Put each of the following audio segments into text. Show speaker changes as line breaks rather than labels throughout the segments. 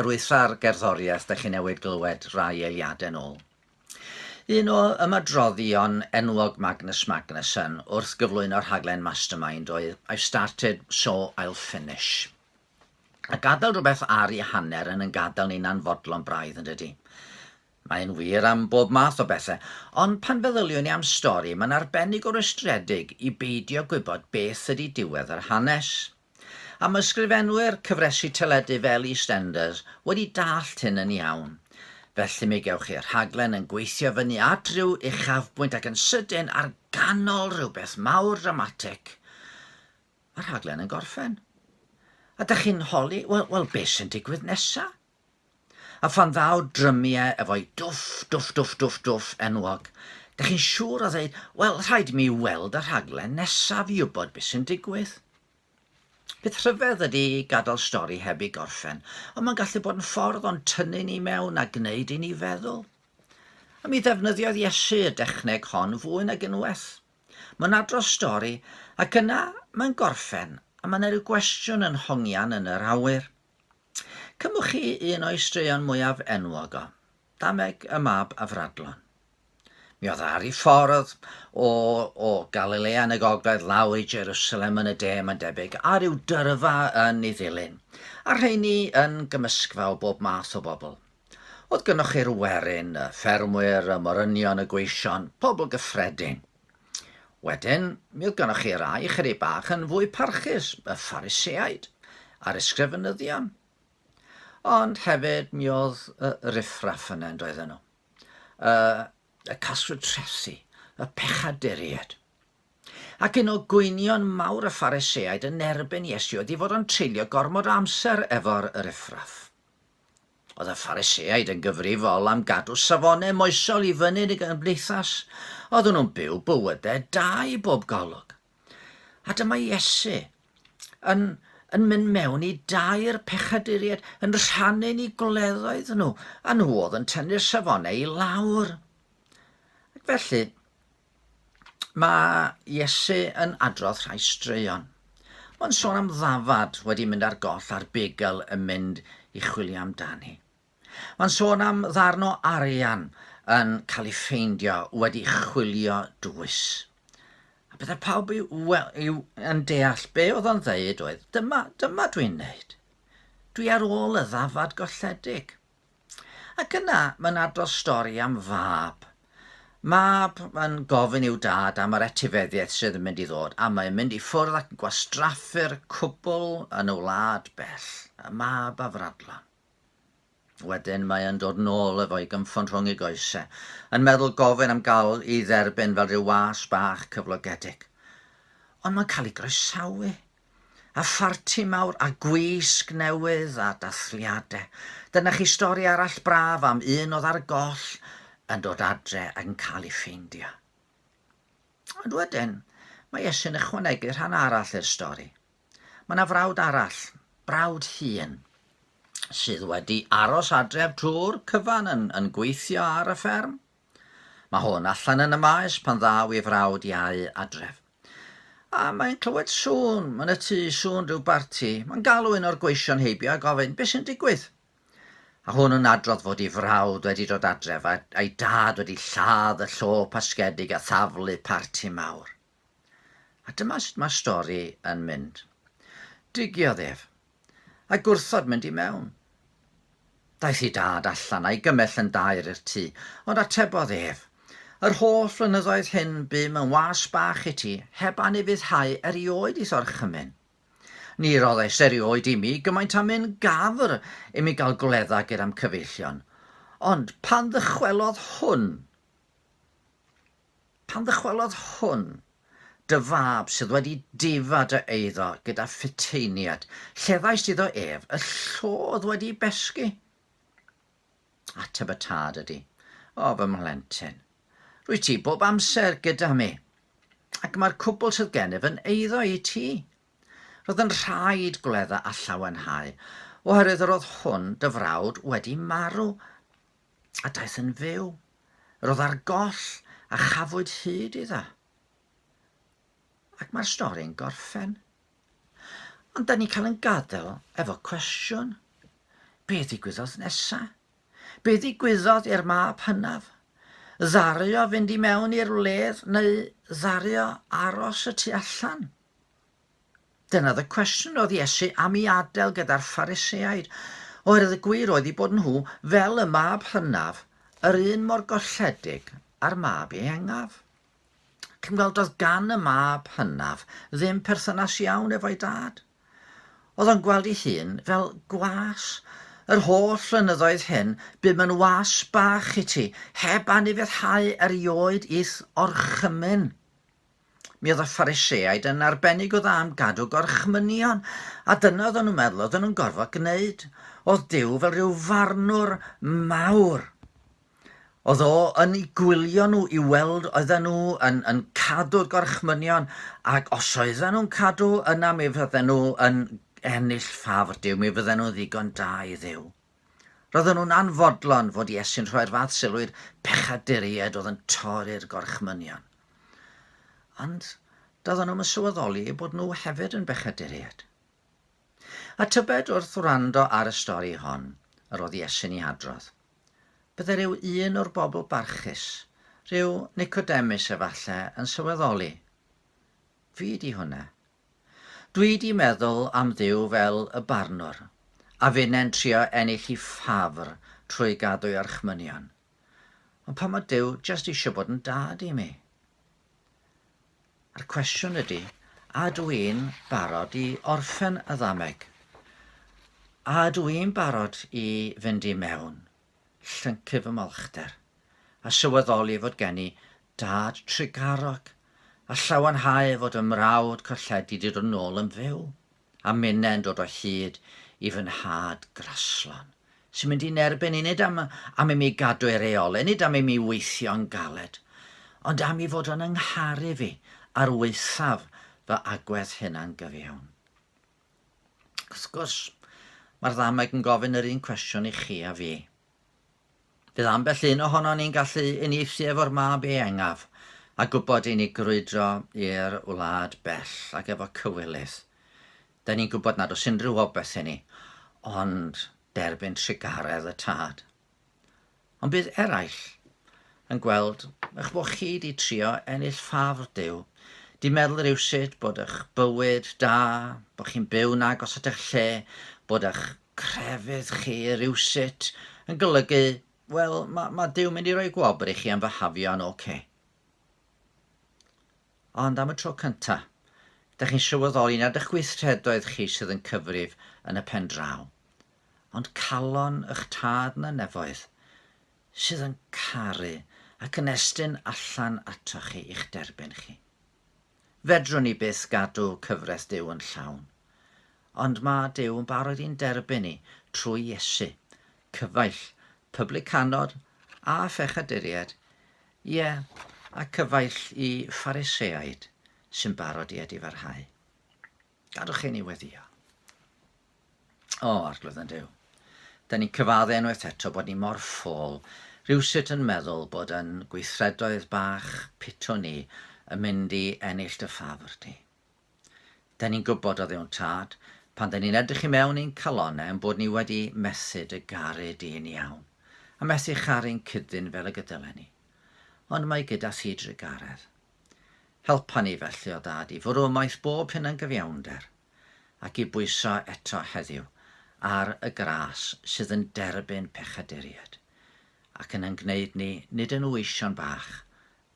Arwydda'r gerddoriaeth dych chi newid glywed rai eiliadau nôl. Un o ymadroddion enwog Magnus Magnuson wrth gyflwyno rhaglen Mastermind oedd I started so I'll finish. A gadael rhywbeth ar ei hanner yn yn gadael ni'n anfodlon braidd yn dydy. Mae'n wir am bob math o bethau, ond pan feddyliwn i am stori mae'n arbennig o rwystredig i beidio gwybod beth ydy diwedd yr hanes. Am ysgrifenwyr cyfresi teledu fel EastEnders wedi dallt hyn yn iawn. Felly mi gewch chi rhaglen yn gweithio fyny at ryw uchafbwynt ac yn sydyn ar ganol rhywbeth mawr dramatic, mae'r rhaglen yn gorffen. A dych chi'n holi, wel, wel, beth sy'n digwydd nesa? A phan ddaw drymie efo'i dwff, dwff, dwff, dwff, dwff enwog, dach chi'n siŵr o ddeud, wel, rhaid i mi weld y rhaglen nesaf i wybod beth sy'n digwydd. Peth rhyfedd ydy gadael stori heb ei gorffen, ond mae'n gallu bod yn ffordd o'n tynnu ni mewn a gwneud i ni feddwl. A mi ddefnyddiodd Iesu y dechneg hon fwy nag unwaith. Mae'n adrodd stori, ac yna mae'n gorffen, a mae yna rhyw gwestiwn yn hongian yn yr awyr. Cymwch chi un o'i straeon mwyaf enwog o, Dameg y Mab Afradlon. Mi oedd ar ei ffordd o, o Galilea yn y gogledd lawr i Jerusalem yn y de, mae'n debyg, a rhyw dyrfa yn ei ddilyn, a rheini yn gymysgfa o bob math o bobl. Oedd gynnwch chi'r werin, y ffermwyr, y morynion, y gweision, pobl gyffredin. Wedyn, mi oedd gennych chi rai ychydig bach yn fwy parchus, y Phariseaid a'r ysgrifenyddion. Ond hefyd, mi oedd y riffraff yna yn doedden nhw. Y, y caswyd trethi, y pechaduried. Ac un o gwynion mawr y Phariseaid yn erbyn Iesu oedd i fod o'n treulio gormod o amser efo'r riffraff. Oedd y Phariseaid yn gyfrifol am gadw safonau moesol i fyny yn y gymdeithas. Oedden nhw'n byw bywydau da i bob golwg. A dyma Iesu yn, yn mynd mewn i dair pechaduriaid, yn rhannu ni gwleddoedd nhw, a nhw oedd yn tynnu'r safonau i lawr. Ac felly, Mae Iesu yn adrodd rhai straeon. Mae'n sôn am ddafad wedi mynd ar goll a'r begel yn mynd i chwilio amdani. Mae'n sôn am ddarn o arian yn cael ei ffeindio wedi chwilio dwys. A byddai pawb i, wel, i, yn deall be oedd o'n ddeud oedd, dyma, dyma dwi'n neud. Dwi ar ôl y ddafad golledig. Ac yna mae'n adrodd stori am fab. Mab yn gofyn i'w dad am yr etifeddiaeth sydd yn mynd i ddod, a mae'n mynd i ffwrdd ac yn gwastraffu'r cwbl yn y wlad bell. Y mab a fradlan. Wedyn mae yn dod nôl efo'i gymffon rhwng ei goesau, yn meddwl gofyn am gael i dderbyn fel rhyw was bach cyflogedig. Ond mae'n cael ei groesawu a pharti mawr a gwisg newydd a dathliade. Dyna chi stori arall braf am un oedd ar goll yn dod adre ac yn cael ei ffeindio. Ond wedyn, mae Iesu'n ychwanegu rhan arall i'r stori. Mae yna frawd arall, brawd hun, sydd wedi aros adref drwy'r cyfan yn, yn gweithio ar y fferm. Mae hwn allan yn y maes pan ddaw ei frawd iau adref. A mae'n clywed sŵn, yn y tŷ, sŵn rhyw barti. Mae'n galw un o'r gweision heibio a gofyn, Be sy'n digwydd? A hwn yn adrodd fod ei frawd wedi dod adref a, a'i dad wedi lladd y llo pasgedig a thaflu parti mawr. A dyma sut mae'r stori yn mynd. Digiodd ef, a gwrthod mynd i mewn. Daeth ei dad allan a'i gymell yn daer i'r tŷ, ond atebodd ef, Yr holl flynyddoedd hyn bum yn was bach i ti, heb anufuddhau erioed i'th orchymyn. Ni roddais erioed imi gymaint â myn gafr imi gael gwledda ger a'm cyfeillion, ond pan ddychwelodd hwn, Pan ddychwelodd hwn, dy fab sydd wedi difa dy eiddo gyda phuteiniaid, llefaist iddo ef y llodd wedi besgu. Ateb y tad ydy, O fy mhlentyn, rwyt ti bob amser gyda mi, ac mae'r cwbl sydd gennyf yn eiddo i ti. Roedd yn rhaid gwledda a llawenhau, oherwydd yr oedd hwn, dy frawd, wedi marw. a daeth yn fyw. Roedd ar goll a chafwyd hyd iddo. Ac mae'r stori'n gorffen. Ond da ni cael yn gadael efo cwestiwn. Be ddigwyddodd nesa? Be ddigwyddodd i'r mab hynaf? Ddario fynd i mewn i'r wledd neu ddario aros y tu allan? Dyna oedd y cwestiwn roedd Iesu am i adael gyda'r Phariseaid, oherwydd y gwir oedd ei bod nhw fel y mab hynaf, yr un mor golledig â'r mab iengaf. Ac yn gweld oedd gan y mab hynaf ddim perthynas iawn efo'i dad. Oedd o'n gweld ei hun fel gwas. Yr holl flynyddoedd hyn, bum yn was bach i ti, heb anifuddhau erioed i'th orchymyn. Mi oedd y Phariseaid yn arbennig o dda am gadw gorchmynion, a dyna oedden nhw'n meddwl oedden nhw'n gorfod gwneud. Oedd Dyw fel rhyw farnwr mawr. Oedd o yn ei gwylio nhw i weld oedden nhw yn, yn cadw'r gorchmynion, ac os oedden nhw'n cadw yna mi fydden nhw yn ennill ffafr Dyw, mi fydden nhw'n ddigon da i Ddyw. Roedden nhw'n anfodlon fod Iesu'n rhoi'r fath sylw i'r pechaduriaid oedd yn torri'r gorchmynion. Ond doedden nhw'n sylweddoli eu bod nhw hefyd yn bechaduriaid. A tybed wrth wrando ar y stori hon yr oedd Iesu'n ei hadrodd, bydde rhyw un o'r bobl barchus, rhyw Nicodemus efallai, yn sylweddoli, Fi di hwnna. Dwi 'di meddwl am Dduw fel y barnwr, a finnau'n trio ennill i ffafr trwy gadw i orchmynion. Ond pam mae Duw jyst eisiau bod yn dad i mi? A'r cwestiwn ydy, a dw i'n barod i orffen y ddameg? A dw i'n barod i fynd i mewn llyncu fy mholchder, a sylweddoli fod gen i dad trugarog, a llawenhau fod fy mrawd colledi 'di dod nôl yn fyw, a minnau yn dod o hyd i fy nhad graslon, sy'n mynd i'n erbyn i nid am, am i mi gadw ei reolau, nid am i mi weithio'n galed, ond am i fod yn yngharu fi ar waethaf fy agwedd hunan-gyfiawn. Wrth gwrs, mae'r ddameg yn gofyn yr un cwestiwn i chi a fi. Bydd ambell un ohono ni'n gallu unieithu efo'r mab eangaf a gwybod i ni grwydro i'r wlad bell ac efo cywilydd. Da ni'n gwybod nad oes unrhyw obeth i ni, ond derbyn trugaredd y tad. Ond bydd eraill yn gweld eich bod chi wedi trio ennill ffafr Duw, di meddwl rywsut bod eich bywyd da, bod chi'n byw'n agos at eich lle, bod eich crefydd chi rywsut yn golygu, wel, mae, mae Duw'n mynd i roi gwobr i chi am fy hafio'n ocê. Ond am y tro cynta', dych chi'n sylweddoli nad eich gweithredoedd chi sydd yn cyfrif yn y pen draw, ond calon y'ch Tad yn y Nefoedd, sydd yn caru ac yn estyn allan atoch chi i'ch derbyn chi. Fedrwn ni byth gadw cyfraith Duw yn llawn, ond mae Duw yn barod i'n derbyn ni trwy Iesu, cyfaill, pyblycanod a phechaduriaid, Ie, a cyfaill i Phariseaid sy'n barod i edifarhau. Gadwch chi ni weddio. O, arglwydd yn Dyw. Da ni'n cyfadde unwaith eto bod ni mor ffôl, rhywsut yn meddwl bod yn gweithredoedd bach pitw ni yn mynd i ennill dy ffafr di. 'Da ni'n gwybod oddi o'n tad, pan 'da ni'n edrych i mewn i'n calonnau ein bod ni wedi mesur dy garu di yn iawn, a methu charu'n cyddyn fel y gydylen ni. Ond mae gyda thi drugaredd. Helpa ni felly, o Dad, i fwrw ymaith bob hunangyfiawnder, ac i bwyso eto heddiw ar y gras sydd yn derbyn pechaduriaid, ac yn y'n gwneud ni, nid yn weision bach,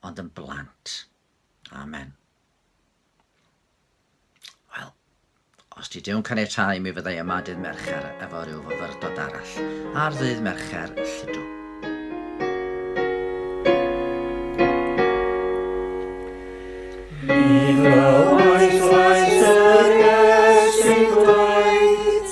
ond yn blant. Amen. Wel, os ti dew'n caniatau mi fyddai yma dydd Mercher efo rhyw fyfyrdod arall ar ddydd Mercher lludw. Mi glywais llais yr iesu gwaith